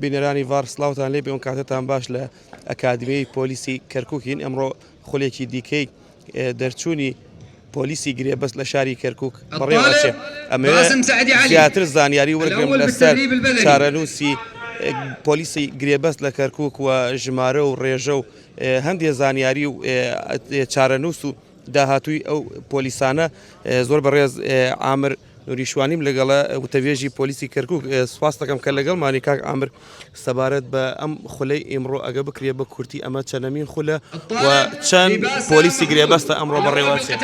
بینەرانی ڤار سڵاوتان لێبێ ئەو کاتەتان باش لە ئەکادمیی پۆلیسی کەرکووکین ئەمڕۆ خولێکی دیکەی دەرچوونی پۆلیسی گرێبەست لە شاری کەرکووک بەڕێوەچێ ئەمەوێ زیاتر زانیاری وەرگرم لەسەر چارەنووسی پۆلیسی گرێبەست لە کەرکووک و ژمارە و ڕێژە و هەندێ زانیاری و چارەنووس و داهاتووی ئەو پۆلیسانە زۆر بەڕێز ئامر نوری شوانیم لەگەڵە وتەبێژی پۆلیسی کەرکک سپاس دەکەم کە لەگەڵمانی کاک ئامر سەبارەت بە ئەم خولەی ئیمڕۆ ئەگە بکرێ بە کورتی ئەمە چەنەمین خولە و چەند پۆلیسی گرێبەستە ئەمڕۆ بەڕێوەچێ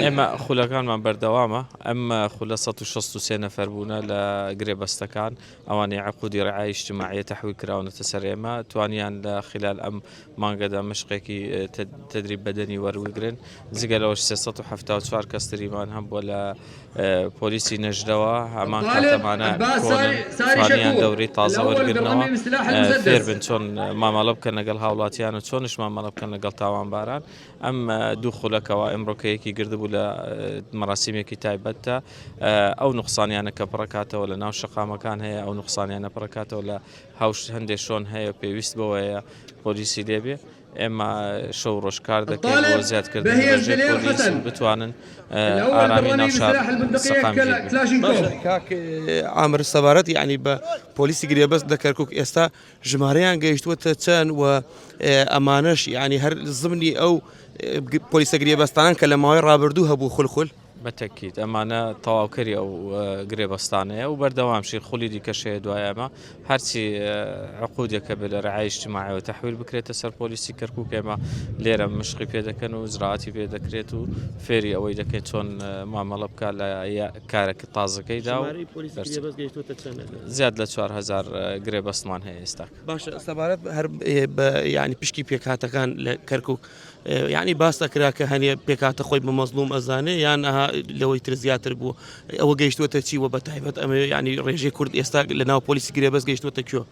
ئێمە خولەکانمان بەردەوامە ئەم خولە 1663 نەفەر بوونە لە گرێبەستەکان ئەوانەی عقودی رعایە اجتماعیە تحویل کراونەتە سەر ئێمە توانیان لە خلال ئەم مانگەدا مشقێکی تدریب بەدەنی وەروگرن جگە لەوەش 374 کەس تریمان هەم بۆ لە پۆلیسی نەژدەوە هەمان کاتەمانە توانیان دەوری تازە وەرگرنەوە فێربن چۆن مامەڵە بکەن لەگەڵ هاوڵاتیان و چۆنش مامەڵە بکەن لەگەڵ تاوانباران ئەم دوو خولە کەوا ئمڕۆ کەیەکی گردبوو لە مەراسیمێکی تایبەتدا ئەو نقصانیانە کە پڕکاتەوە لە ناو شقامەکان هەیە ئەو نقصانیانە پڕکاتەوە لە هاوش هەندێک شۆن هەیە پێویست بەوەیە پۆلیسی لێبێ ئێمە شەو ڕۆژکار دەکەین بۆ زیادکرد بتوانن ئارامی ناوشار ئامر سەبارەت یعنی بە پۆلیسی گرێبەست لە کەرکک ئێستا ژمارەیان گەیشتووەتە چەند و ئەمانەش یعنی هەر زمنی ئەو پۆلیسە گرێبەستانان کە لە ماوەی ڕابردوو هەبوو خولخل بەتەکیت ئەمانە تەواوکەری ئەو گرێبەستانەیە و بەردەوام شیر خولی دیکەشەیە دوای ئەمە هەرچی عقودێکە بێ لە ڕعایشتماعەوە تحویل بکرێتە سەر پۆلیسی کەرکک ئێمە لێرە مشقی پێ دەکەن و زراعتی پێ دەکرێت و فێری ئەوەی دەکەێت چۆن مامەڵە بکە لە کارەکە تازەکەیدا و ژمارەی پۆلیسی دەرچوو. گرێبەست گەیشتووەتە چەند؟ زیاد لە چوار هەزار گرێبەستمان هەیە ئێستاکە. باشە سەبارەت هەر بە یانی پشکی پێکهاتەکان لە کەرکوک یانی باس ئەکرا کە هەنێ پێکهاتە خۆی بە مەزڵوم ئەزانێ یان ئەها لەوەی تر زیاتر بووە ئەوە گەیشتووەتە چی وە بە تایبەت ئەمەوێ یانی ڕێژەی کورد ئێستا لە ناو پۆلیسی گرێبەست گەیشتووەتە کوێ؟